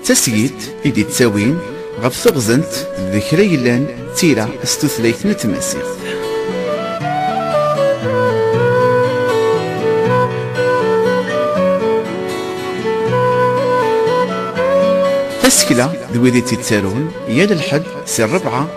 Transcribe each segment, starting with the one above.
D tasgilt i d-ittawin ɣef teɣzent d kra yellan d tira s tutlayt n tmaziɣt. Tasekla d wid i tt-ittarun yal lḥedd si rrebɛa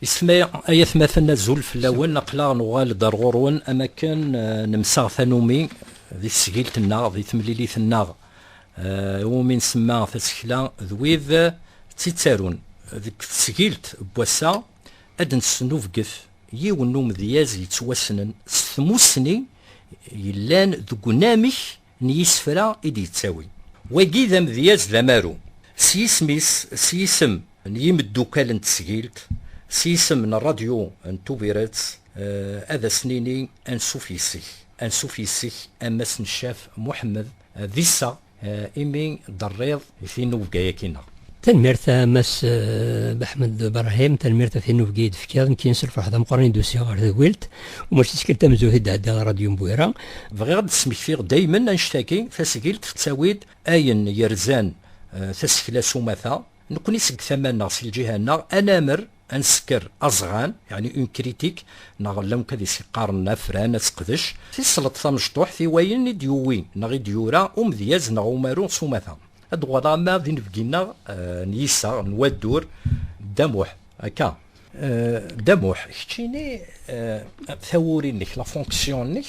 Isem-a, ay atmaten azul fell-awen, aql-aɣ nuɣal-d ar ɣur-wen am akken nemsaɣ tanumi di tesgilt-nneɣ, di temlilit-nneɣ iwumi nsemma Tasekla d wid tt-ittarun. Deg tesgilt n wass-a ad d-nesnubget yiwen n umedyaz yettwassnen s tmussni yellan deg unamek n yisefra i d-yettawi. Wagi d amedyaz d amaru, s yisem-is, s yisem n yimeddukal n tesgilt, s yisem n rradyu n Tubiret, ad as-nini ansuf yes-k, ansuf yes-k a Mass Neccaf Muḥemmed, d iseɣ imi d-terriḍ D tinubga yaki neɣ? Tanemmirt a Mass Ahmed Brahim, tanemmirt ɣef tinubga i d-tefkiḍ, nekkin s lferḥ d ameqqran i d-usiɣ ɣer tedwilt, u mačči d tikkelt tamezzut i d-ɛeddiɣ ɣer Radyu Mbwira. Bɣiɣ ad d-smektiɣ daymen annect-agi, tasgilt tettawi-d ayen yerzan tasekla s umata, nekkni seg tama-nneɣ, si lǧiha-nneɣ, anamer, ad nsekker aẓɣan, yeɛni une critique, neɣ llan wakk ad is-qqaren afran, ad seqdec, tisleḍt tamecṭuḥt i wayen i d-yuwi neɣ i d-yura umedyaz neɣ umaru s umata. Ad uɣaleɣ ama d inebgi-nneɣ n yiseɣ n waddur Dda Muḥ, akka? Dda Muḥ, keččini tawuri-nnek, la fonction-nnek?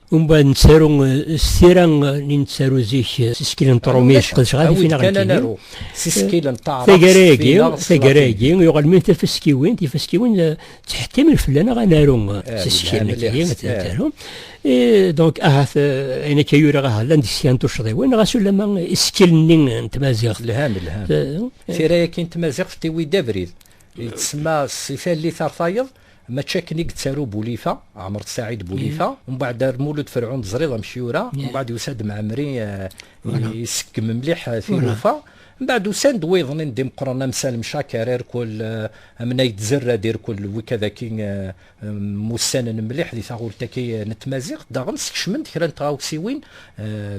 Umbeɛd nettaru s tira ni nettaru zik s iskil n tṛumit qedceɣ ad ifin aɣ ntini s iskil n taɛrabt tagara-agi tagara-agi yuɣal min tafaskiwin tifaskiwin ttḥettimen fell-aneɣ ad naru s iskil nekki taru donc ahat ayen akka yuriɣ ahat llant deg kra n tuccḍiwin ɣas ulama iskil-nni n tmaziɣt lhan lhan tira-yaki n tmaziɣt tiwi d abrid yettsemma si tallit ar tayeḍ Mačči akken i yettaru Bulifa, Ɛmer Ssaɛid Bulifa, mbeɛd ar Mulud Ferɛun teẓriḍ amek yura, mbeɛd yusa-d Mɛemmri isekkem mliḥ tilufa, mbeɛd usan-d wiḍen-in d imeqqren am Salem Caker, irkul amnay d Zerrad, irkul wikad-agi mmusanen mliḥ di taɣult-agi n tmaziɣt, daɣen skecmen-d kra n tɣawsiwin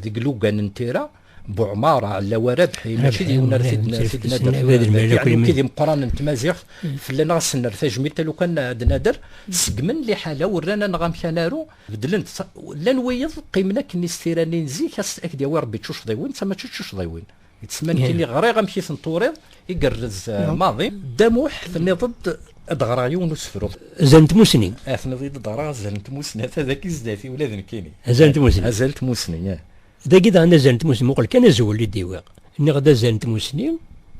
deg lugan n tira. Buɛmar, Ɛellawa Rabḥi, mačči d yiwen ara t-id-nader yeɛni kid imeqqran n tmaziɣt, fell-aneɣ ad sen-nerr tajmilt alukan ad nader, seggmen liḥala-w, rran aneɣ amek ad naru, beddlen-t, llan wiyeḍ qqimen akken i s tira-nni n zik, ad ak-d-yawi Rebbi d tucḍiwin, d ta mačči d tucḍiwin. D ssma nekkini, ɣriɣ amek i ten-turiḍ, igerrez maḍi. Dda Muḥ, tenniḍ-d ad d-ɣreɣ yiwen n usefru. Azal n tmussni. Tenniḍ-iyi-d ad d-ɣreɣ azal n tmussni, ata dagi zdat-i, ula d nekkini. Azal n tmussni. Azal n tmussni, ih. Dagi daɣen azal n tmussni, muqel kan azwel i d-iwiɣ. Nniɣ-d azal n tmussni,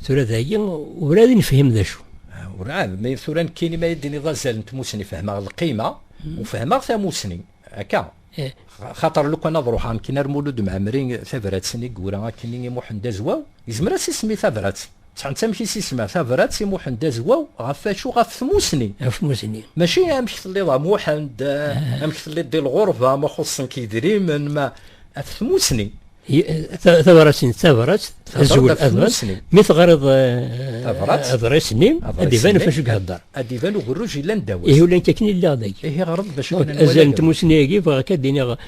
tura dagi urɛad i nefhim d acu. Ah, urɛad, mi tura nekkini ma yi-d-tiniḍ azal n tmussni, fehmeɣ lqima, hmm. u fehmeɣ tamussni, akka. Eh. Xaṭer lukan ad ruḥeɣ nekkini ar Mulud Mɛemmri tabrat-nni i yura akkenni i Muḥend Azwaw, yezmer ad s-isem i tabrat. Sɛant amek i s-isma tabrat i Muḥend Azwaw, ɣef wacu? Ɣef tmusni. Ɣef tmusni. Mačči amek telliḍ a Muḥend, ah. amek telliḍ di lɣurba, ma xuṣṣen-k idrimen, ma af tmusni. tabrat-nni d tabrat, azwel adras, mi teɣriḍ adras-nni, ad iban ɣef acu ihedder. Ad iban ugerruj yellan ddaw. Ihi ula nekk akken i lliɣ dagi. Ihi ɣreḍ d acu kan. Azal n tmusni-agi bɣiɣ ad d-iniɣ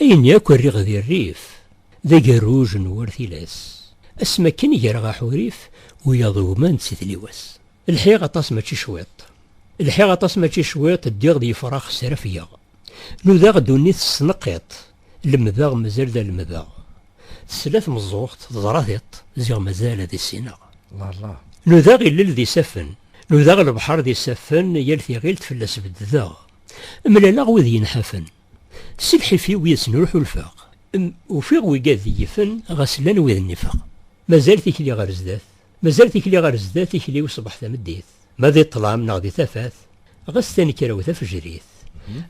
Ayen yakk rriɣ di rrif, d agerruj n war tilas, asmi akken greɣ aḥurif, wiyaḍ ugman d titliwas. Lḥiɣ aṭas mačči cwiṭ, lḥiɣ aṭas mačči cwiṭ, ddiɣ d yefrax srafgeɣ, nudaɣ ddunit s tneqqiṭ, lemdeɣ mazal d alemdeɣ, tesla tmeẓẓuɣt, teẓra tiṭ, ziɣ mazal ad issineɣ. Nudaɣ illel d isaffen, nudaɣ lebḥer d isaffen, yal tiɣilt fell-as beddedeɣ, mlaleɣ wid yenḥafen. Si lḥif-iw yes-sen ur ḥulfeɣ. Ufiɣ wi gad d-yifen ɣas llan wid nnifeɣ. Mazal tikli ɣer zdat. Mazal tikli ɣer zdat tikli-w ṣbeḥ tameddit. Ma di ṭṭlam neɣ di tafat ɣas tanekra-w tafejrit.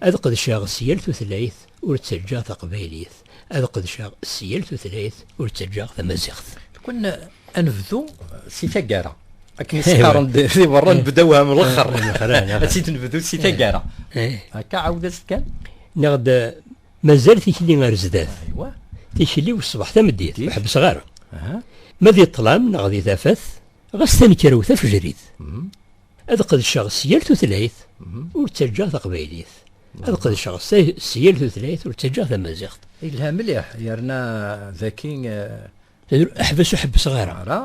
Ad qedceɣ s yal tutlayt ur ttaǧǧaɣ taqbaylit. ad qedceɣ s yal tutlayt ur ttaǧǧaɣ tamaziɣt. Kun ad nebdu si taggara. Akken isqaren di berra eh. nbda waham lexxer. Eh, ad tt-id nebdu si taggara. Eh. Akka ɛawed-as kan. Neɣ-d mazal tikli ar zdat. Tikli u ṣṣbeḥ tameddit, ur ḥebbseɣ ara. Ma di ṭṭlam neɣ di tafat, ɣas tanekkra u tafejrit. Mm-hmm. Ad qedceɣ s yal tutlayt mm-hmm. ur ttaǧǧaɣ taqbaylit. ad qedceɣ s yal tutlayt ur ttaǧǧaɣ tamaziɣt. Yelha mliḥ yerna daki. Eh, ḥbes ur ḥebbseɣ ara. Ara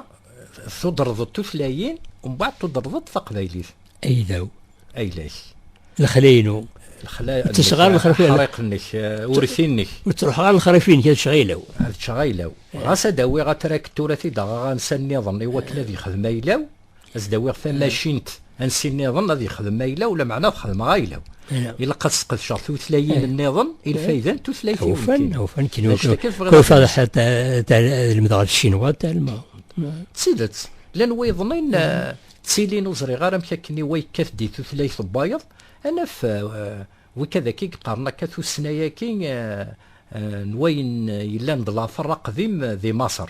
tudreḍ tutlayin mbaɛd tudreḍ-d taqbaylit. Aydaw. Ayla-k. Lexla-inu. Lexla. Ttesɣa lexla. Ḥriq-nnek, eh, urti-nnek. Ur ttruḥ ara lexrif-nnek ad ččeɣ aylaw. Ad ččeɣ aylaw. Ɣas ad awiɣ atraktur ad t-id-aɣeɣ ansa-nniḍen i wakken ad yexdem aylaw. ad s-d-awiɣ tamacint ansi nniḍen ad yexdem ayla-w, lameɛna ad xedmeɣ ayla-w. Ilaq ad sqedceɣ tutlayin nniḍen i lfayda n tutlayt-iw. Ufan, ufan, kino, kino taḍḥat lemdeɣ d Cinwa talma. D tidet, llan wiḍnin ttilin ur ẓriɣ ara amek akken iwa yekkat di tutlayt n wayeḍ, ad naf wikadaki yeqqaren akka tussna-yaki n wayen yellan d later aqdim di Maṣer.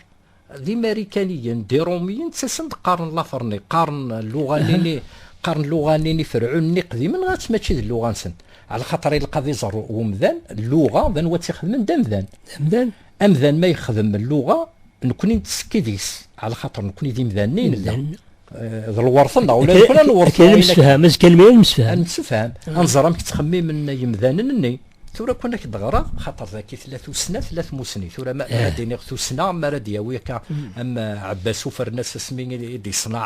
D imarikaniyen, d irumiyen, ttasen-d qqaren laferni, qqaren luɣa-nni, qqaren luɣa-nni iferɛun-nni iqdimen, ɣas mačči d luɣa-nsen. Ɛla xaṭer ilaq ad iẓer umdan luɣa, d anwa tt-ixedmen, d amdan. D amdan. Amdan ma yexdem luɣa, nekkni nettekki deg-s, ɛla xaṭer nekkni d imdanen i nella. d lwerṭen neɣ ula d kra lwerṭen kan nemsefham azekka lemri ad nemsefham nemsefham ad nẓer amek ttxemmimen yemdanen-nni tura kun ak d-ɣreɣ xaṭer daki tella tussna tella tmusni tura ma ara d-iniɣ tussna ma ara d-yawi akka am Abbas ufernas asmi i d-iṣneɛ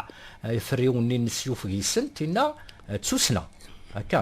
iferriwen-nni n syuf gisen tinna d tussna akka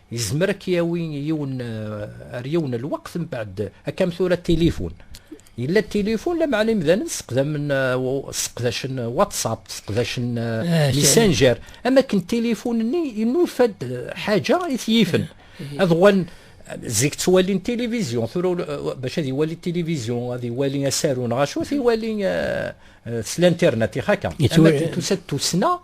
Yezmer ad k-yawi yiwen ar yiwen lweqt mbeɛd akkam tura tilifun. Yella tilifun lameɛna imdanen seqdamen seqdacen WhatsApp, seqdacen Messenger, am akken tilifun-nni inufa-d ḥaǧa i t-yifen ad uɣalen zik ttwalin tilivizyu, tura bac ad iwali tilivizyu, ad iwali asaru neɣ acu, ad iwali s l'internet, ixaka. Am akken tusa-d tussna.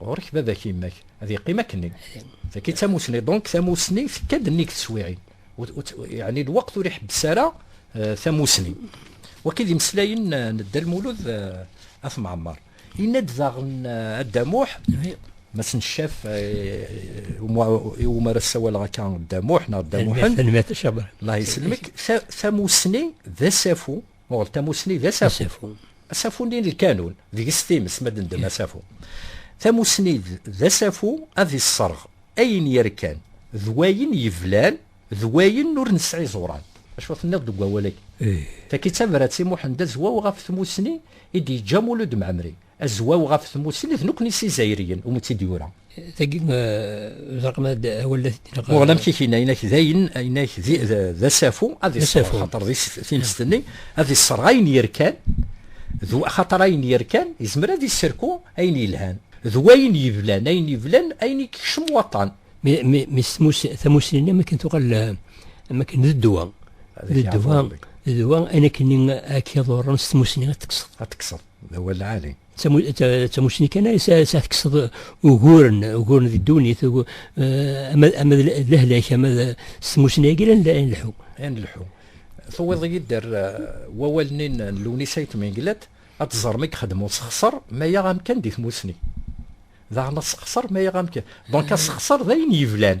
Ɣur-k baba-k yemma-k ad yeqqim akkenni. Tagi d tamusni, donc tamusni tekka-d nnig teswiɛin. Yeɛni lweqt ur iḥebbes ara euh, tamusni. Wagi d imeslayen euh, n Dda Lmulud euh, At Mɛemmer. Yenna-d daɣen Adda Muḥ, ma s-nccaf iwumi ara ssawaleɣ akka Dda Muḥ neɣ Dda Muḥend, Allah yeselmek, tamusni d asafu Muɣel tamussni d asafu. Asafu-nni n lkanun, deg-s times ma d-ndem asafu. Tamussni d asafu ad isserɣ ayen yerkan d wayen yeblan d wayen ur nesɛi iẓuran. Acu tenniḍ deg wawal-agi? Taki d tabrat i Muḥend Azwaw ɣef tmussni i d-yeǧǧa Mulud Mɛemmri. Azwaw ɣef tmussni d nekkni s Izzayriyen, umi tt-id-yura. Tagi d raqem ad awal la t-id-neqra. Muɣel amek i k-inna, inna-k d ayen, inna-k d asafu ad isserɣ, xaṭer di tinest-nni ad isserɣ ayen yerkan, xaṭer ayen yerkan izmer ad isserku ayen yelhan, d wayen yeblan, ayen yeblan, ayen i kekcem waṭṭan. Mi s tamussni-nni am akken tuɣal, am akken d ddwa, d ddwa, d ddwa, ayen akken i ak-iḍurren s tmussni ad tekkseḍ. d awal lɛali. d tamussni kan ay tekkseḍ uguren uguren di ddunit ama d lehlak ama d s tmussni-agi la nleḥḥu. la nleḥḥu. Tuwiḍ-iyi-d ar wawal-nni n Lewnis Ayt Menglet, ad teẓrem i yexdem usexṣer ma yaɣ amkan di tmussni. Daɣen asexṣer ma yaɣ amkan. Donc asexṣer d ayen yeblan.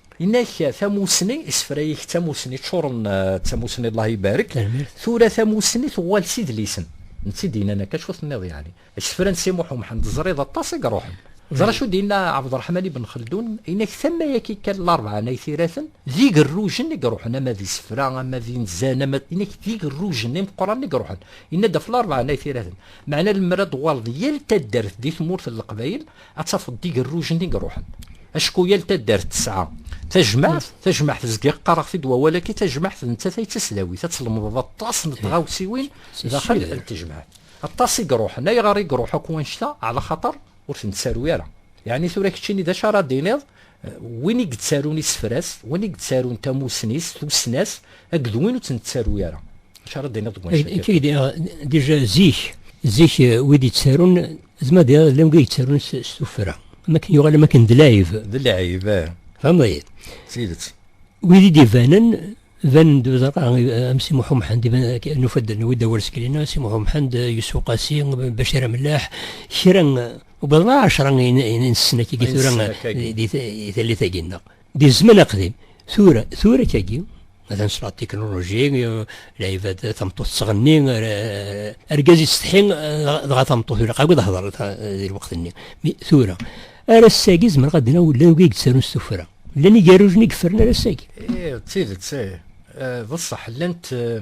Inak tamussni, isefra-ik d tamussni ččuren d tamussni Allah ibarek, tura tamussni tuɣal s idlisen, n tt-id yennan akka acu tenniḍ yeɛni, isefra n Si Muḥ Umḥend teẓriḍ aṭas i iruḥen. Ẓer acu d-yenna Ɛebderreḥman Ibn Xeldun, inak tama-agi kan larebɛa n aytiraten d igerrujen i iruḥen ama d isefra ama d inzan ama d, inak d igerrujen imeqqranen i iruḥen, yenna-d ɣef larebɛa n aytiraten, meɛna lemmer ad d-tuɣaleḍ yal taddart di tmurt n Leqbayel ad tafeḍ d igerrujen i iruḥen acku yal taddart tesɛa tajmaɛt tajmaɛt zgiɣ qqareɣ-t-id wawal-agi tajmaɛt d nettat ay d tasdawit ad tlemdeḍ aṭas n tɣawsiwin daxel n tejmaɛt aṭas i iruḥen ayɣer i iruḥ akk wanect-a ɛla xaṭer ur ten-ttaru ara yeɛni tura keččini d acu ara d-tiniḍ win i yettarun isefras win i yettarun tamussni-s tussna-s akked win ur ten-ttaru ara acu ara d-tiniḍ deg wanect-a dija zik zik wid yettarun D ma diɣ llan wid yettarun s s tuffra. Am akken yuɣal am akken d lɛib. D lɛib, eh. Tfehmeḍ-iyi? D tidet. Wid i d-ibanen, banen-d uẓar-a, am Si Muḥ Umḥend, iban ak- nufa-d, nuwi-d awal seg-lina, Si Muḥ Umḥend, Yusef Uqasi, Bacir Amellaḥ, kra, wwḍen ɛecra in- in- insessen-agi tura Insessen-agi. di di tallit-agi-nneɣ. Di zzman aqdim, tura, tura kagi, ad nesla tikinuluji, lɛibad tameṭṭut tettɣenni, argaz yettsetḥi, dɣa tameṭṭut ilaq akk ad hḍer di lweqt-nni. Tura, ar ass-agi zemreɣ ad d-naw llan wigi yettarun s tuffra. Llan igerrujen i yefren ar ass-agi. Eh, d tidet, eh, eh, d ṣṣeḥ, llant eh,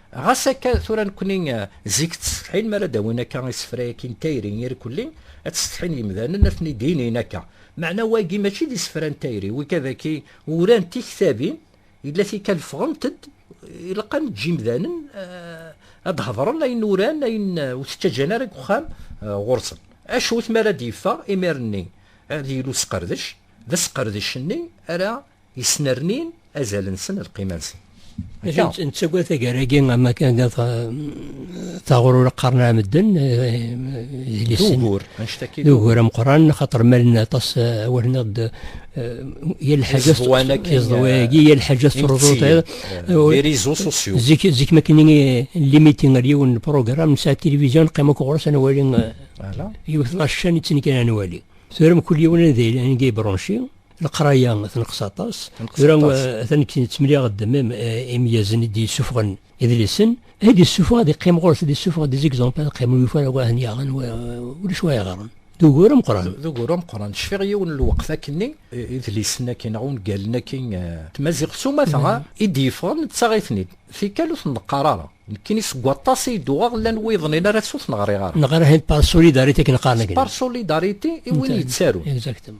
Ɣas akka, tura nekkni zik ttsetḥin mi ara d-awin akka isefra-agi n tayri irkelli, ad ttsetḥin yemdanen ad ten-id-inin akka. Meɛna wagi mačči d isefra n tayri, wigi dagi uran tiktabin, yella tikkal ffɣent-d, ilaq ad neǧǧ imdanen ad d-hedren ayen uran, ayen ur t-ttaǧǧan ara deg uxxam ɣur-sen. Acu-t mi ara d-yeffeɣ imir-nni ad yili usqerdec, d asqerdec-nni ara Yesnernin azal-nsen, lqima-nsen. Akka. Nettagad tagar-agi ama kan taɣrur qqaren ar medden d ugur d ugur ameqran xaṭer malen aṭas awalen-aɣ d yal lḥaǧa iẓdewagi yal lḥaǧa teṛḍuḍ zik zik ma kan limiti ar yiwen n program nesɛa tilivizyon qim akk ɣur-s ad nwali yiwet n acan i ttnekran ad nwali tura mkul yiwen ad yili anga yebṛunci Leqraya tenqes aṭas. Tura atan deg temliɣ ddemem imyazen i d-yessufɣen idlisen. Ad yessufɣ ad yeqqim ɣur-s ad yessufɣ des exemples ad qqimen yufa ara wahen yaɣen ulac wa yeɣren. D ugur ameqqran. D ugur ameqqran. Cfiɣ yiwen n lweqt akkenni idlisen akkin neɣ ungalen akkin tmaziɣt s umata i d-yeffɣen nettaɣ-iten-id. Tikkal ur ten-neqqar ara. Nekkini seg waṭas i d-uɣeɣ llan wiḍen ara s ur ten-ɣriɣ ara. Neɣra par solidarité akken qqaren. Par solidarité i win yettarun. Exactement.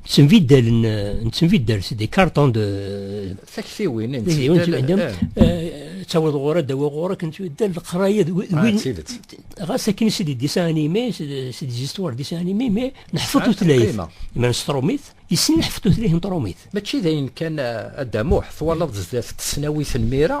Ttenbiddalen, nettenbiddal s des cartons de... Taktiwin, nettenbiddal. Ttaweḍ ɣur ad dawa ɣur akken tbeddal leqraya d win... Ɣas akken si des dessins animés, si des histoires dessins animés, mais neḥfeḍ tutlayt. Ma nestrumit, yessen neḥfeḍ tutlayt n trumit. Mačči d ayen kan, Adamuḥ, twalaḍ zdat tesnawit n mira,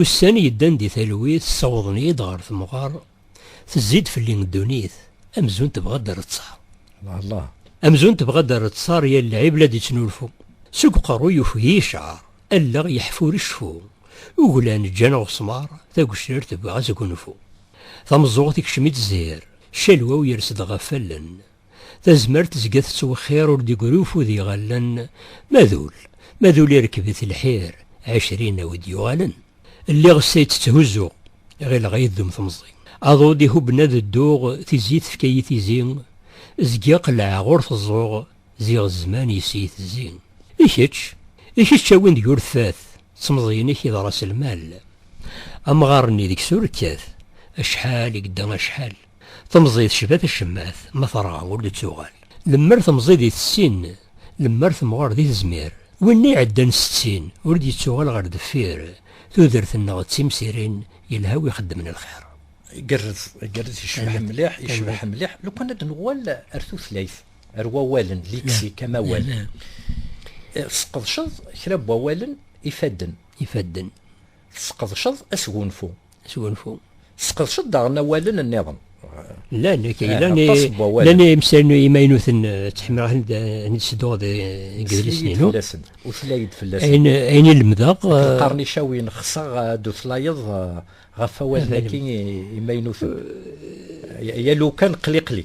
Ussan yeddan di talwit ssawḍen-iyi-d ɣer temɣer, tezzi-d fell-i ddunit, amzun tebɣa ad d-reţţar. Allah Allah. Amzun tebɣa ad d-reţţar yal lɛib la d-iţnulfu. Seg uqerru yufeg-iyi cceɛr, allaɣ yeḥfur iceffu, uglan ǧǧan aɣesmar, tagecrart tebɣa asgunfu. Tameẓẓuɣt ikcem-itt zzhir, ccelwa-w yers-d ɣef allen. Tazmert tezga tettwexxir ur d-igri ufud iɣallen, ma d ul, ma d ul irekb-it lḥir, ɛecrin a wi d-yuɣalen. Lliɣ s tay tt-tthuzzuɣ, ɣileɣ a yi-ddum temẓi. Aḍu d-ihubben ad dduɣ, tizi tefka-yi tizi, zgiɣ qellɛeɣ ur t-ẓẓuɣ, ziɣ zzman yes-iyi tezzi. I kečč? I kečč a win deg ur tfat, d temẓi-inek i d ras lmal. Amɣar-nni deg-s ur kkat, acḥal i yedda acḥal. Temẓi tecba tacemmat, ma terɣa ur d-tuɣal. Lemmer temẓi di tessin, lemmer temɣer di tezmir. Winna iɛeddan settin, ur d-yettuɣal ɣer deffir. Tudert-nneɣ d timsirin, yelha wi ixeddmen lxir. Igerrez, igerrez, yecbeḥ mliḥ, yecbeḥ mliḥ. Lukan ad nuɣal ar tutlayt, ar wawalen, liksik, amawal. Tesqedceḍ kra n wawalen ifadden. Ifadden. Tesqedceḍ asgunfu. Sgunfu. Tesqedceḍ daɣen awalen nniḍen. Llan, eh, llan, llan imsal imaynuten eh, ttḥemmileɣ ad nesduɣ deg yidlisen-inu. Utlay-d fell-asen. Ayen, ayen i lemdeɣ. Qqaren eh, icawiyen xseɣ ad utlayeḍ ɣef awalen-agi imaynuten. Yal ukan qliqli.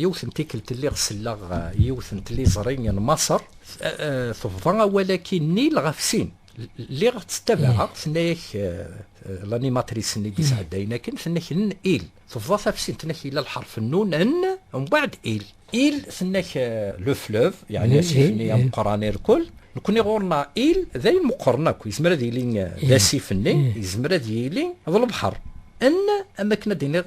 Yiwet n tikkelt lliɣ selleɣ yiwet n tliẓri n Maṣer tebḍa awal-agi Nil ɣef sin. Lliɣ ttabaɛeɣ, tenna-yak lanimatris-nni d-isɛeddayen akken, tenna-k n il, tebḍa tafsint, tenna-k yella lḥerf nnun n, mbaɛd il. Il, tenna-k le fleuve, yeɛni asif-nni ameqqran irkul, nekkni ɣur-neɣ il d ayen meqqren akk, yezmer ad yili d asif-nni, yezmer ad yili d lebḥer. N, am wakken ad d-iniɣ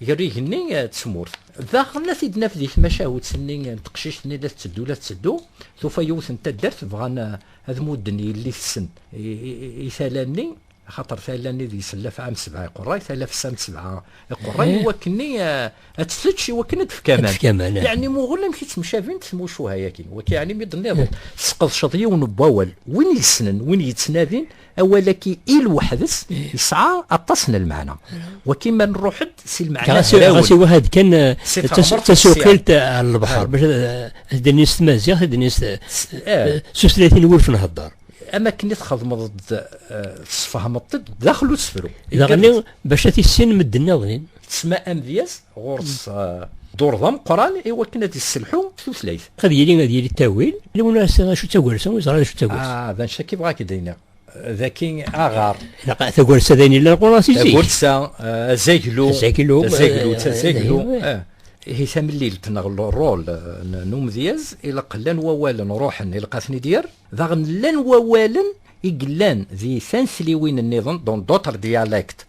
ger igenni d tmurt. Daɣen ad t-id-naf di tmacahut-nni n teqcict-nni la tetteddu la tetteddu, tufa yiwet n taddart bɣan ad mudden yelli-tsen i tala-nni, axaṭer tala-nni deg-s n lafɛa n sebɛa iqerray, tala fessa n sebɛa iqerray, i wakken-nni ad tt-tečč, i wakken ad d-tefk aman. Yeɛni muɣel amek i ttemcabint tmucuha-agi. Wagi yeɛni mi d-tenniḍ, tesqedceḍ yiwen n wawal, win yessnen, win yettnadin, awalaki i lweḥd-s yesɛa aṭas n lmeɛna wakin ma nruḥ-d si lmeɛna ɣas iwahad kan tasuqilt ar lebḥer bac ad d-nini s tmaziɣt ad d-nini s tutlatin wuref nhedder am akken i txedmeḍ-d tesfehmeḍ-d daxel usefru daɣenni bac ad tissin medden-nniḍen Tesma amedyaz ɣur-s dduṛ d ameqqran i wakken ad d-isselḥu tutlayt. Ad yili ad yili ttawil, yiwen ur yessin acu d tagersa, ur yeẓri acu d tagersa. Ah, d anect-agi bɣa ak d-iniɣ. D akin aɣar. Tagersa d ayen yellan ɣur-as i zik. Tagersa, eh, azaglu. Azaglu. Eh, azaglu, d tazaglu. Eh, ihi tamlilt neɣ rol n umedyaz, ilaq llan wawalen ruḥen, ilaq ad ten-id-yerr. Daɣen llan wawalen i yellan di tanetliwin-nniḍen, dans d'autres dialectes.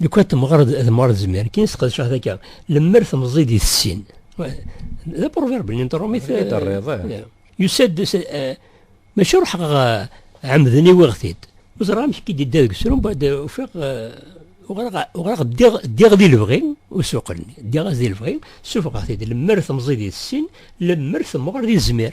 Lukan temɣer d temɣer zmir, kien sqedceɣ taka, lemmer temẓi di tessin. D aproverb n interromit. I d-terriḍ, eh. Yusa-d, eh, maca ruḥeɣ eh, ɛemden i wiɣ-t-id. Ur ẓriɣ amek i d-idda deg usrum, bad ufiɣ, uɣraɣ ddiɣ di lebɣi, ur suqlen, ddiɣ-as di lebɣi, sufɣeɣ-t-id, lemmer temẓi di tessin, lemmer temɣer di zmir.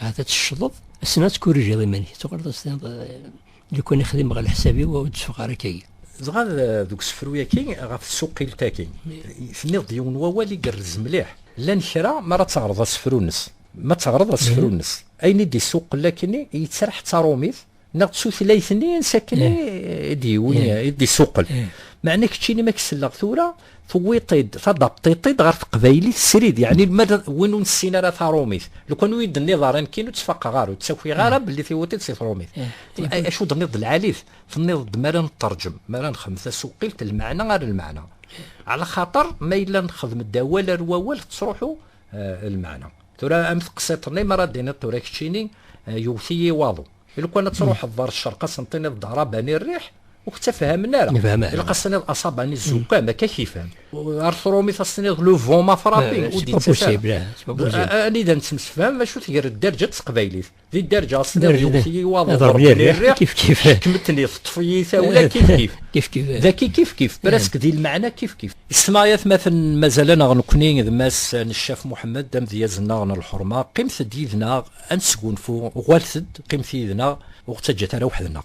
Ahat ad teccḍeḍ, assen ad tkurrijiḍ iman-ik, ad tuɣaleḍ ad s-tiniḍ lukan i xdimeɣ ɣer leḥsab-iw ur d-teffeɣ ara akka-yi. Dɣa deg usefru-yaki ɣef tsuqilt-agi, tenniḍ-d yiwen n wawal i yerrez mliḥ, llan kra mi ara teɣreḍ asefru-nnes, mi ara teɣreḍ asefru-nnes, ayen i d-isuqel akkenni yettraḥ d taṛumit, neɣ d tutlayt-nni sakken eh. i d-yiwi eh. i d-isuqel eh. meɛna keččini ma k-selleɣ tura tuwiḍ-id tadabṭiṭ-id ɣer teqbaylit srid yeɛni ma win ur nessin ara tarumit lukan ur yi-d-tenniḍ ara nekkin ur ttfaqeɣ ara ur ttakiɣ ara belli tiwiḍ-id si tarumit acu d-tenniḍ d lɛalit tenniḍ-d mi ara neṭṭerǧem mi ara nexdem tasuqilt lmeɛna ar lmeɛna ala xaṭer ma yella nexdem-d awal ar wawal tettruḥu lmeɛna Tura am teqsiṭ-nni mi ara d-tiniḍ tura keččini yewwet-iyi waḍu. Lukan ad truḥeḍ ɣer ccerq ad sen-tiniḍ-d Arabani rriḥ, ur k-ttafhamen ara. Ilaq ad s-tiniḍ Asabani zukkam, akka k-ifhem. Ar trumit ad s-tiniḍ le vent m'a frappé, ur d-yettaf ara. Anida nettemsefham, acu tger dderǧa n teqbaylit. Di dderǧa tesliḍ yewwet-iyi waḍu ḍerbi rriɣ kif kif kemmtni teṭṭef-iyi tawla kif kif kif kif daki kif kif presque di lmeɛna kif kif ismayat maten mazal-aneɣ nekkni d mass Neccaf Muḥemmed d amedyaz-nneɣ n lḥerma qqimet-d yid-neɣ ad nesgunfu uɣalet-d qqimet yid-neɣ ur ɣ-ttaǧǧat ara weḥd-neɣ.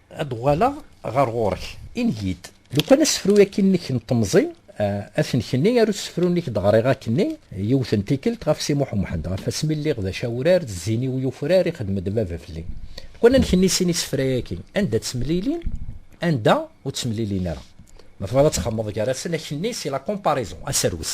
Ad d-uɣaleɣ ɣer ɣur-k, ingi-d. Lukan asefru akkin-nnek n temẓi, ad t-nekni ar usefru-nnek i d-ɣriɣ akkin-nni, yiwet n tikkelt, ɣef Si Muḥ u Mḥend, ɣef asmi lliɣ d acawrar, d zzin-iw yufrar i xedm-d baba fell-i. Lukan ad nekni sin isefra-yaki, anda ttemlilin, anda ur ttemlilin ara. Ma tebɣiḍ ad txedmeḍ gar-asen, akkin-nni, si la comparaison, aserwes.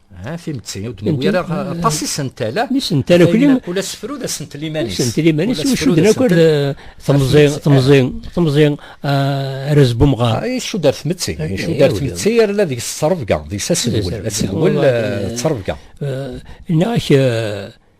ها timetti ur d-newwi ara aṭas isentala isentala kuli kul asefru d asentel iman-is asentel iman-is ucuden akk ar temẓi temẓi temẓi arraz n umɣar icud ar tmetti icud ar tmetti yerna deg-s ttrebga deg-s asedwel asedwel ttrebga nniɣ-ak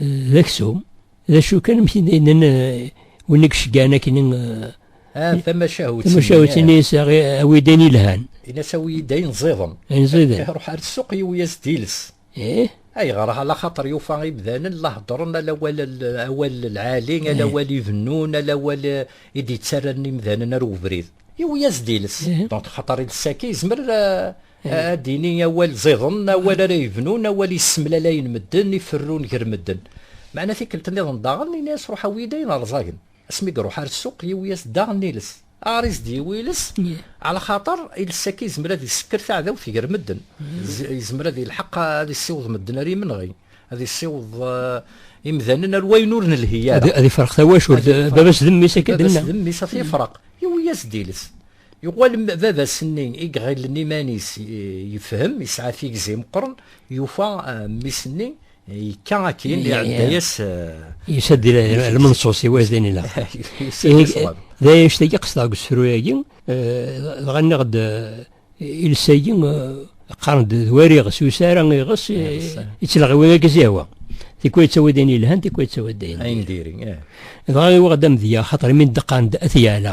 D aksum. D acu kan amek d-yennan eh, win i yeceggan akken eh, ah, tamacahut tamacahut ini yesɛa eh, awidan ilhan inas awid ayen ẓiḍen ayen ẓiḍen iruḥ ar ssuq yiwi-yas diles eh ayɣer ala xaṭer yufa imdanen la heddren ala awal awal lɛali ala awal ibennun ala awal i d-yettarran imdanen ar ubrid yiwi-yas diles donc xaṭer iles-agi yezmer Ad d-ini awal ẓiḍen, awal ara yebnun, awal yessemlalayen medden, iferrun ger medden. Meɛna tikkelt nniḍen daɣen, ini-as ruḥ awi-yi-d ayen rẓagen. Asmi i iruḥ ar ssuq, yewwi-as-d daɣen iles. Aɣer i s-d-yewwi iles? Ɛlaxaṭer iles akka yezmer ad isekker taɛdawt ger medden. Yezmer ad ilḥeq ad issiweḍ medden ar yimenɣi, ad issiweḍ imdanen ar wayen ur nelhi ara. Ad ifreq tawacult, baba-s d mmi-s akka d-nna. Baba-s d mmi-s ad t-ifreq, yewwi-as-d iles. Yuɣal baba-s-nni i iɣillen iman-is yefhem, yesɛa tigzi meqqren, yufa mmi-s-nni yekka akkin, iɛedda-yas. Yusa-d lmenṣus i wazin ila. D anect-agi qesdeɣ deg usefru-agi, dɣa nniɣ-d iles-agi qqaren-d d wariɣ, s usi ara iɣes, yettleɣ i win akka s-yehwa. Tikwal yettawi-d ayen yelhan, tikwal yettawi-d ayen diri. Dɣa yuɣ-d amedya, xaṭer imi d-qqaren-d At Yeɛla,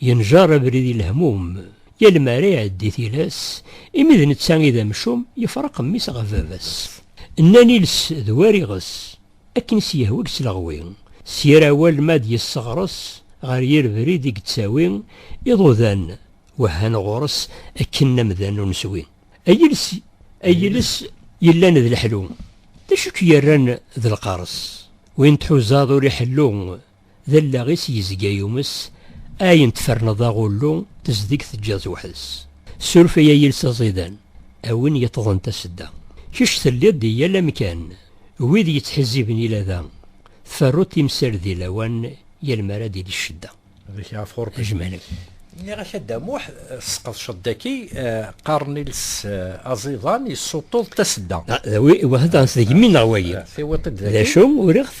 Yenjer abrid i lehmum, yal mi ara iɛeddi tilas, imi d netta i d amcum, yefreq mmi-s ɣef baba-s. Nnan iles d war iɣes, akken i s-yehwa deg sleɣwi, s yir awal ma ad yesseɣres, ɣer yir brid i yettawi, iḍudan wehhan ɣur-s akken amdan ur neswi. Ay iles, ay iles yellan d leḥlu, d acu i k-yerran d lqers? Win tḥuzaḍ ur iḥellu. D allaɣ-is yezga yumes, ayen tferneḍ aɣullu tezdeg teǧǧiḍ-t weḥd-s. Suref-iyi a yiles aẓidan, a win yeṭṭḍen tasedda. Kečč telliḍ di yal amkan, wid yettḥizziben i lada, tferruḍ timsal di lawan yal mi ara d-tili ccedda. Ɣik ɣef Xurṭi. Ajmal-ik. Nniɣ-ak a Dda Muḥ, tesqedceḍ daki, qqaren iles aẓidan yessuṭṭuḍ tasedda. D awi iwehḍan s deg mmi-nneɣ wagi. Tiwiṭ-id daki. D acu, uriɣ-t.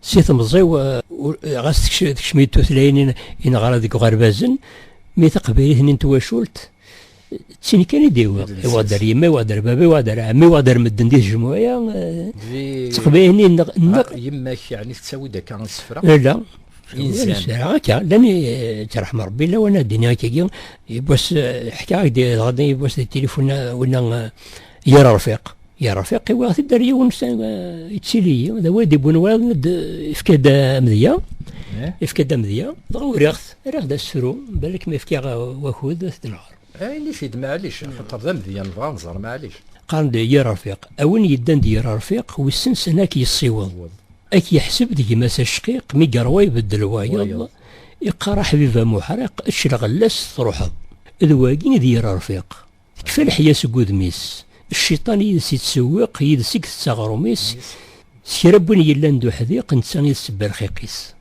Si temẓi ɣas tekcem-iyi tutlayin i neɣra deg uɣerbazen, mi taqbaylit-nni n twacult d tin kan i d-iwweḍ. Iwweḍ-d ar yemma, iwweḍ-d ar baba, iwweḍ-d ar ɛemmi, iwweḍ-d ar medden di tejmuɛ-a. D taqbaylit-nni nneɣ. Yemma-k yeɛni tettawi-d akka isefra? Ala. Inzan. Akka, llan yettṛaḥem Ṛebbi lawan ad d-iniɣ akkagi, yiwwas ḥkiɣ-ak-d iḍ-nni yiwwas di tilifun winna yir Ṛfiq. Ya Rafiq, iwiɣ-t-id ar yiwen yettili-yi, d awal d-ibbun wayeḍ, ifka-d amedya, ifka-d amedya, dɣa uriɣ-t, riɣ-d asefru, balak ma ifkiɣ wakud, ad t-d-nɣer. Ini-t-id maɛlic, axaṭer d amedya, nebɣa ad nẓer maɛlic. Qqaren-d Ya Rafiq, a win yeddan d Ya Rafiq, wissen s anwa k-yessiweḍ, a k-yeḥseb d gma-s acqiq, mi yeṛwa ibeddel wayeḍ, iqqar a Ḥbiba Muḥriq, ečč lɣella-s truḥeḍ, d wagi i d Ya Rafiq. Tekfa leḥya seg udem-is. Cciṭan yid-s ittsewwiq, yid-s i itett aɣrum-is. S kra n win yellan d uḥdiq, netta i d sebba rxiq-is.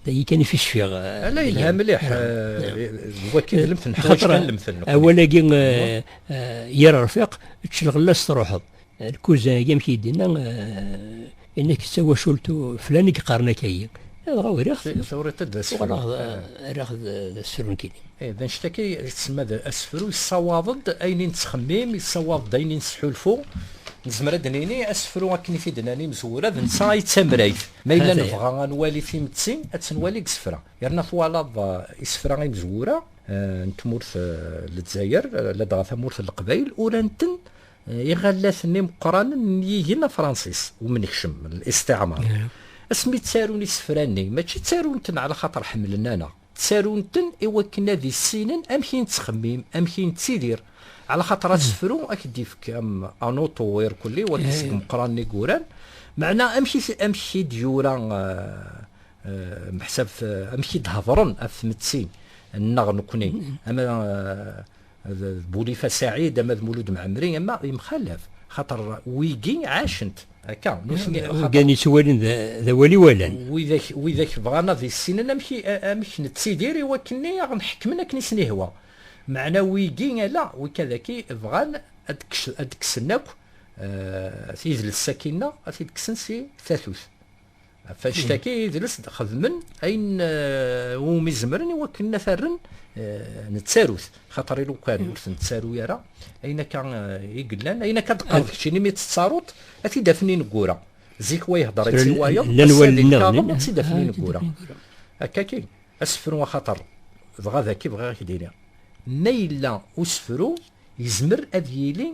Dagi kan i ficfiɣ. Ala yelha mliḥ. Wakki d lemten, ḥwaǧ kan lemten. Awal-agi yir rfiq, ečč lɣella-s truḥeḍ. Lkuzag, amek i d-inna, inna-k d tawacult flan i yeqqaren akayi. Dɣa uriɣ-t. Turiḍ-t d asefru. Uɣaleɣ rriɣ d asefru nekkini. D anect akka i tsemma d asefru, yessawaḍ-d ayen i nettxemmim, yessawaḍ-d ayen i nesḥulfu. Nezmer ad d-nini asefru akken i t-id-nnan imezwura d netta ay d tamrayt. Ma yella nebɣa ad nwali timetti, ad tt-nwali deg isefra. Yerna twalaḍ isefra imezwura n tmurt n Lezzayer, ladɣa tamurt n Leqbayel, uran-ten Iɣallaten imeqqranen n yigen afransis umnekcem l-isṭiɛmar asmi ttarun isefra-nni mačči ttarun-ten ɛla xaṭer ḥemmlen-aneɣ ttarun-ten i wakken ad issinen amek i nettxemmim amek i nettidir ɛla xaṭer asefru ad k-d-ifk am anuṭu irkelli wagi seg imeqqranen i yuran meɛna amek i d-yura meḥsab amek i d-hedren af tmettin nneɣ nekni ama D Boulifa Saïd ama d Mouloud Ma'amri ama yemxalaf xaṭer wigi ɛacent akka nutni gan yettwalin d awal iwalan widak widak bɣan ad issinen amek amek nettidir i wakkenni aɣ nḥekmen akken i sen-ihwa meɛna wigi ala wikka daki bɣan ad kksen akk idles sakkinna ad t-id-kksen si tatut. Ɣef annect-agi, idles d-xedmen ayen umi zemren i wakken ad rren nettarut, xaṭer ilukan ur ten-ttaru ara, ayen akka i yellan, ayen akka d-qqareḍ kečč, imi mi tt-tettaruḍ, ad t-id-afen ineggura. Zik wa ihder-itt i wayeḍ, ass-a di lkaɣeḍ ad tt-id-afen ineggura. Akka-agi, asefru axaṭer, dɣa dagi bɣiɣ ad k-d-iniɣ, ma yella usefru, yezmer ad yili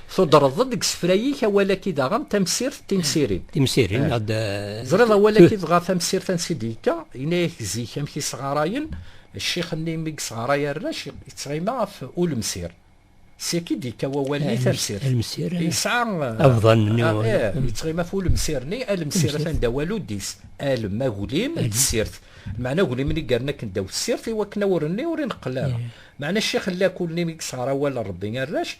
Tudreḍ-d deg isefra-ik awal-agi daɣen tamsirt timsirin. Timsirin, eh. ad... Eh, Ẓriḍ awal-agi dɣa tamsirt ansi d-yekka, yenna-yak zik amek i sɣarayen, ccix-nni mi yesɣaray arrac, yettɣima ɣef ulemsir. Siki d-yekka wawal-nni eh, tamsirt. Alemsir. Yesɛa... Abḍan. Yettɣima ɣef ulemsir-nni, alemsir atan d awal-udis. Alem, aglim, d tsirt. Meɛna aglim-nni garen akken ddaw tsirt, i wakken awren-nni ur ineqqel ara. Meɛna ccix n lakul-nni mi yesɣara awal n Rebbi arrac,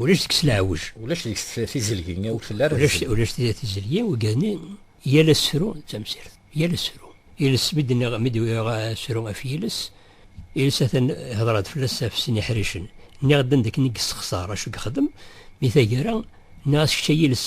ulac deg-s leɛwej. Ulac deg-s tizelgi, ur telli ara tizelgi. Ulac tizelgi, ugani yal asefru d tamsirt. Yal asefru. Iles mi d-nniɣ, mi d-wiɣ asefru af yiles, iles atan hedreɣ-d fell-as af sin iḥricen. Nniɣ-d anda akken i yessexṣar, acu yexdem, mi tagara, nniɣ-as kečč ay iles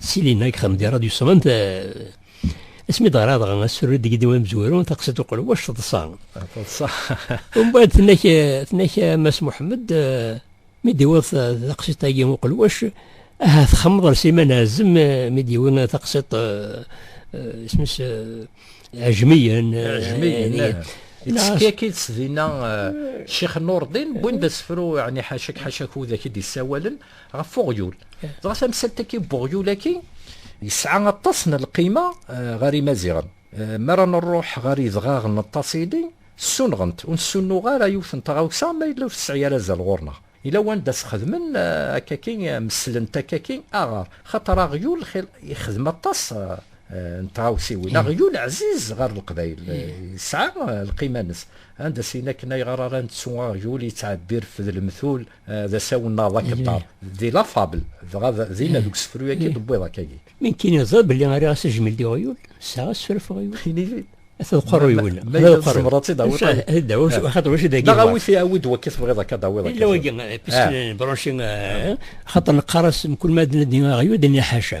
Silina deg xemdi radyu sɣent asmi d-ɣra dɣa asru deg diwa amezwaru taqsiṭ uqelwac teḍsa teḍsa umbeɛd tennak tennak Mass Muḥemmed mi d-iwweḍ taqsiṭ-agi uqelwac aha txemmeḍ ar Sliman Ɛazem mi d-iwwi taqsiṭ isem-is Ɛejmiyen Ɛejmiyen Yetteskak-itt dinna Ccix Nurdin wwin-d asefru ɛni ḥaca-k ḥaca-k widak i d-yessawalen ɣef uɣyul dɣa tamsalt-agi n uɣyul-agi yesɛa aṭas n lqima eh, ɣer imaziɣen eh, mi ara nruḥ ɣer idɣaɣen n ṭasili ssunɣent ur nessunuɣ ara yiwet n tɣawsa ma yella ur tesɛi ara azal ɣur-neɣ ila wanda sxedmen eh, akaki meslent akaki aɣar xaṭer aɣyul ixdem aṭas n tɣawsiwin hmm. aɣyul ɛziz ɣer leqbayel hmm. yesɛa lqima-nnes anda sin akken ayɣer ara nettu aɣyul yettɛebbi rfed lemtul d asawennaḍ akeddar di la fable dɣa dinna deg usefru yagi d-wwiḍ akkagi mi nkiniḍ belli ara asejmel di ɣyul sɛa asefru ɣef ɣyul inili ad tqerru yul ma tzemreḍ ad tidawiḍ ad dawiḍ xaṭer wacu dagi neɣ awit awid wakki tebɣiḍ akka dawiḍ akka illa wagi piskin branchi xaṭer neqqar-as mkul ma d-nadi ɣyul d-nni ḥaca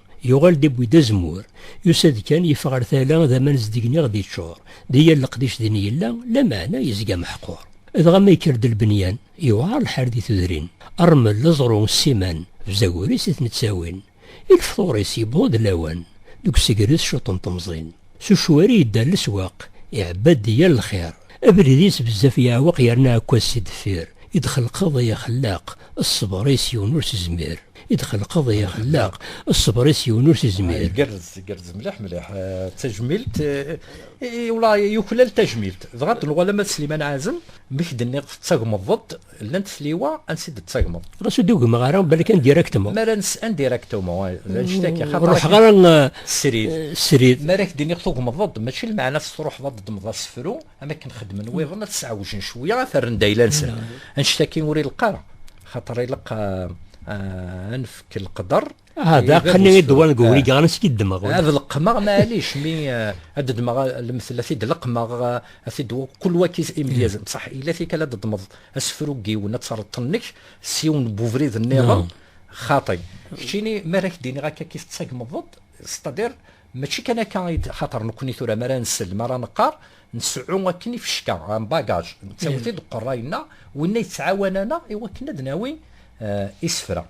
Yuɣal-d iwwi-d azemmur. Yusa-d kan, yeffeɣ ar tala, d aman zedgen i ɣ-d-iččur. Di yal leqdic din yella, lameɛna yezga meḥqur. Dɣa ma yekker-d lbenyan, yewɛer lḥal di tudrin. Rrmel, aẓru, ssiman, bzagur-is i ten-ttawin. I lefṭur-is yewweḍ-d lawan, deg usegres cuṭṭen temẓin. S ucwari yedda leswaq, iɛebba-d yal lxir. Abrid-is bezzaf yeɛweq yerna ɛekkas si deffir. I d-xelqeḍ ay Axellaq, ṣṣber-is yiwen ur s-izmir. I d-xelqeḍ ay Axellaq, ṣṣber-is yiwen ur s-izmir. Igerrez, igerrez mliḥ mliḥ. D tajmilt i wla yuklal tajmilt. Dɣa d-nuɣal ama d Sliman Ɛazem, mi k-d-nniɣ tettagmeḍ-d. Llant tliwa ansi d-tettagmeḍ. Ɣas ur d-ugmeɣ ara, balak an directement. Mara nes'an directement, d anect akka. Ur ruḥeɣ ara srid. Srid. Mara ak-d-iniɣ tugmeḍ-d, mačči lmeɛna ad truḥeḍ ad d-ddmeḍ asefru, am akken xedmen wiḍen, ad t-sɛewjen cwiya, ad t-rren-d ayla-nsen. Anect-agi ur ileqq ara, xaṭer ileqq ad nefk leqder. Ah, d aqni i d-wan deg ubrid ɣer ansi d-ddmeɣ. Ad leqqmeɣ maɛlic mi ad d-ddmeɣ lemtel ad t-id-leqqmeɣ ad t-id kul waki imedyazen. Ṣaḥ ila tikal ad d-ddmeḍ asefru n yiwen ad terreḍ tennek s yiwen n ubrid nniḍen xaṭi. Keččini mi ara ak-d-iniɣ akka kif tettagmeḍ-d, setadir mačči kan akka i d xaṭer nekkni tura mi ara nsell mi ara neqqar nseɛɛu akken ifecka, un bagage, nettawi-t-id uqerray-nneɣ, winna yettɛawan-aneɣ i wakken ad nawi isefra.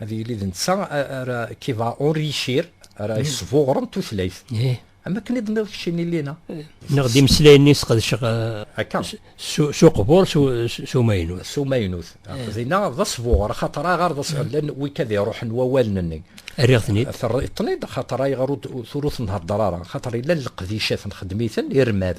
ad yili d netta ara qui va enrichir ara mm. yesbuɣren tutlayt eh. am akken i d-nniɣ kečč inilina eh. neɣ d imeslayen-nni sqedceɣ eh, akka s uqbur s umaynut s umaynut dinna d asbuɣer xaṭer aɣar d asbuɣer llan wika d iruḥen wawalen-nni rriɣ-ten-id terriḍ-ten-id xaṭer ayɣer ur tenhedder ara xaṭer yella leqdicat nxeddem-iten irmad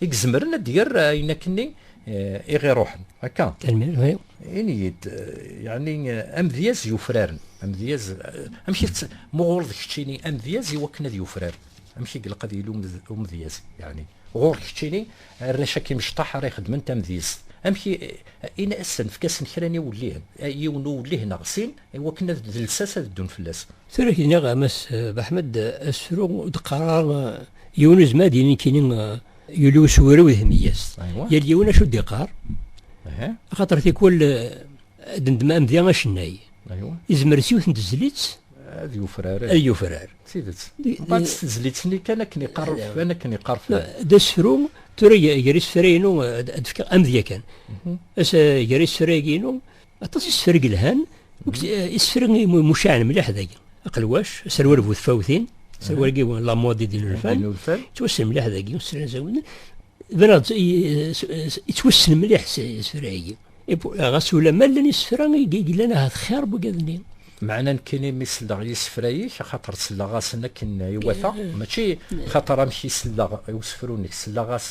I izemren ad d-yerr ayen akken-nni i ɣ-iruḥen. Akka? Tanemmirt, oui. Ini-yi-d, yeɛni amedyaz yufraren, amedyaz, amek i t, ma ɣur-d keččini amedyaz i wakken ad yufrar, amek i ilaq ad yili umedyaz? Yeɛni, ɣur-k keččini arrac akka imecṭaḥ ara ixedmen tamedyezt, amek i, ini-asen, efk-asen kra n iwellihen, yiwen n uwellih neɣ sin, i wakken ad, d lsas ad ddun fell-as. Tura k-d-nniɣ a Mass Baḥmed, asefru d-qqareɣ yiwen uzmar d-yini nekkini yuli usewrew d hemyest. Yal yiwen acu d-iqqar, axaṭer tikwal ad ndem amdi acennay. Izmer s yiwet n tezlit ad yufrar. Ad yufrar. D tidet. Bad s tezlit-nni kan akken iqqar urfan, akken iqqar fan. D asefru, tura gar isefra-inu ad d-fkeɣ amedya kan. As gar isefra-agi-inu, Aṭas isefra yelhan, isefra mucaɛen mliḥ dagi. Aqelwac, aserwal bu tfawtin, aserwal agi la modi din urfan, yettwassen mliḥ dagi, usran zawen. Bnad, yettwassen mliḥ isefra agi. Ɣas ulamma llan isefra yellan ahat xir bugad-nni. Meɛna nekkini mi selleɣ yisefra-ik, axaṭer selleɣ-asen akken iwata, mačči xaṭer amek i selleɣ i usefru-nnek, selleɣ-as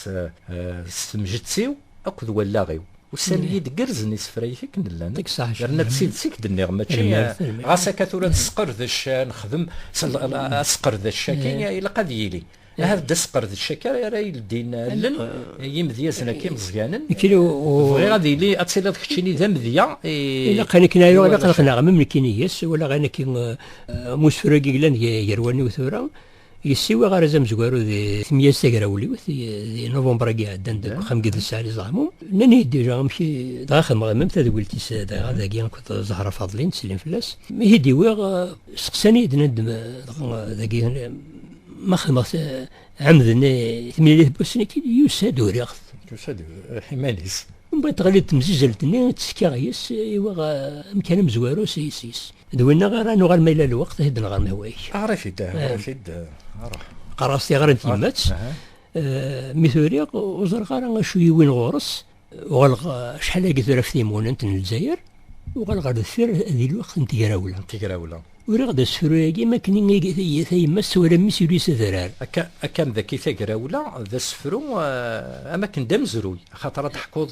s temjett-iw. akked wallaɣ-iw. Ussan-iyi d-gerrzen isefra-ik akken llan, yerna d tidet i k-d-nniɣ, mačči ɣas akka tura nesqerdec, nexdem asqerdec-agi ilaq ad yili. Ahat d asqerdec-agi ara yeldin allen n yimedyazen-agi imeẓyanen. Bɣiɣ ad yili ad tiliḍ keččini d amedya i... Ilaq ayen akken ayu, ilaq ad qqneɣ am nekkini yes, walaɣ ayen akken am usefru-agi yellan gar waniw tura, Yessiwi aɣeraz amezwaru di tmyaz tagrawliwt di November-agi iɛeddan deg uxxam n Gidel Saɛli Zaɛmu. Nnan-iyi-d déjà amek dɣa xedmeɣ imam tadwilt-is dɣa dagi akked Zahra Faḍli nettsellin fell-as. Mi t-id-iwiɣ seqsan-iyi-d nnan-d dɣa dagi ma xedmeɣ ɛemden timlilit n usnekil yusa-d uriɣ-t. Yusa-d iman-is. Mbaṭ ɣli-d temzizelt-nni ttekkaɣ yes-s iwiɣ amkan amezwaru s yes-s. d winna ara nuɣal ma yella lweqt ad nɣer mehwayek ɣer-it-id ɣer-it-id ṛuḥ qqar-as tiɣra n tyemmat mi turiɣ ur ẓerreɣ ara acu yiwin ɣur-s uɣaleɣ acḥal agi tura ɣef timunent n lezzayer uɣaleɣ ɣer deffir di lweqt n tegrawla tegrawla uriɣ-d asefru-agi ma akken tayemma tessawal am mmi-s yuli s adrar akka akka mdaki tagrawla d asefru am akken d amezruy axaṭer ad teḥkuḍ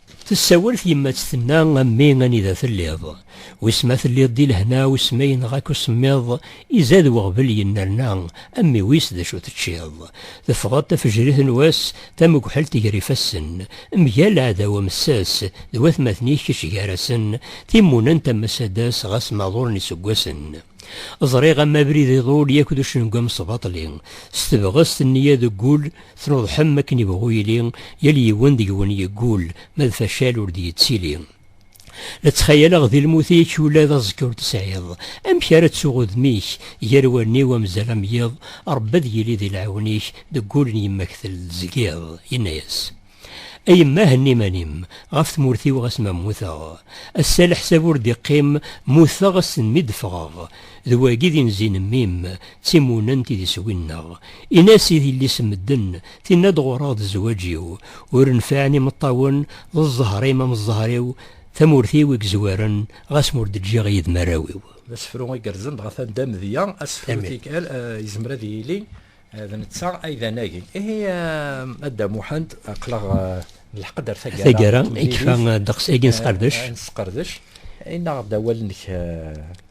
Tessawel tyemmat tenna, A mmi anida telliḍ? Wis ma telliḍ di lehna, wis ma yenɣa-k usemmiḍ, izad weɣbel yennerna, a mmi wis d acu teččiḍ? Teffɣeḍ tafejrit n wass, tamegḥelt ger ifassen, mgal aɛdaw amessas, d watmaten-ik kečč gar-asen, timmunent am asadas ɣas ma ḍulen iseggasen. Ẓriɣ am abrid iḍul yak d ucengu amesbaṭli, s tebɣest nniya deg wul, Tnuḍḥem akken yebɣu yili, yal yiwen deg-wen yeggul, ma d facal ur d-yettili. La ttxayaleɣ di lmut-ik ula d aẓekka ur t-tesɛiḍ, amek ara ttuɣ udem-ik gar wallen-iw amzal am yiḍ, Ṛebbi ad yili di lɛiwen-ik deg ul n yemma-k telzgiḍ. Yenna-yas, A yemma henni iman-im, ɣef tmurt-iw ɣas ma mmuteɣ, ass-a leḥsab ur d-iqqim, mmuteɣ ass n mi d-ffɣeɣ, D wagi d inzi n mmi-m, d timunent i d iswi-nneɣ. Ini-as i yelli-s n medden, tenna-d ɣur-ɣ d zzwaǧ-iw. Ur nfiɛen imeṭṭawen, d zzher-im am zzher-iw, tamurt-iw i yezwaren, ɣas ma ur d-ǧǧiɣ yid-m arraw-iw. D asefru igerrzen dɣa tanda amedya, asefru tikkal yezmer ad yili d netta ay d anagi. Ihi a Dda Muḥend, aql-aɣ nelḥeq-d ar taggara. Taggara, yekfa ddeqs-agi ad nesqerdec. Ad nesqerdec. Ini-aɣ-d awal-nnek.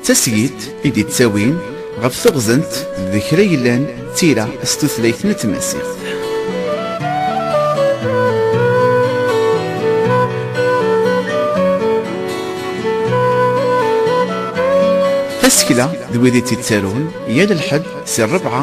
D tasgilt i d-ittawin ɣef teɣzent d kra yellan d tira s tutlayt n tmaziɣt. Tasekla d wid i tt-ittarun yal lḥedd si rrebɛa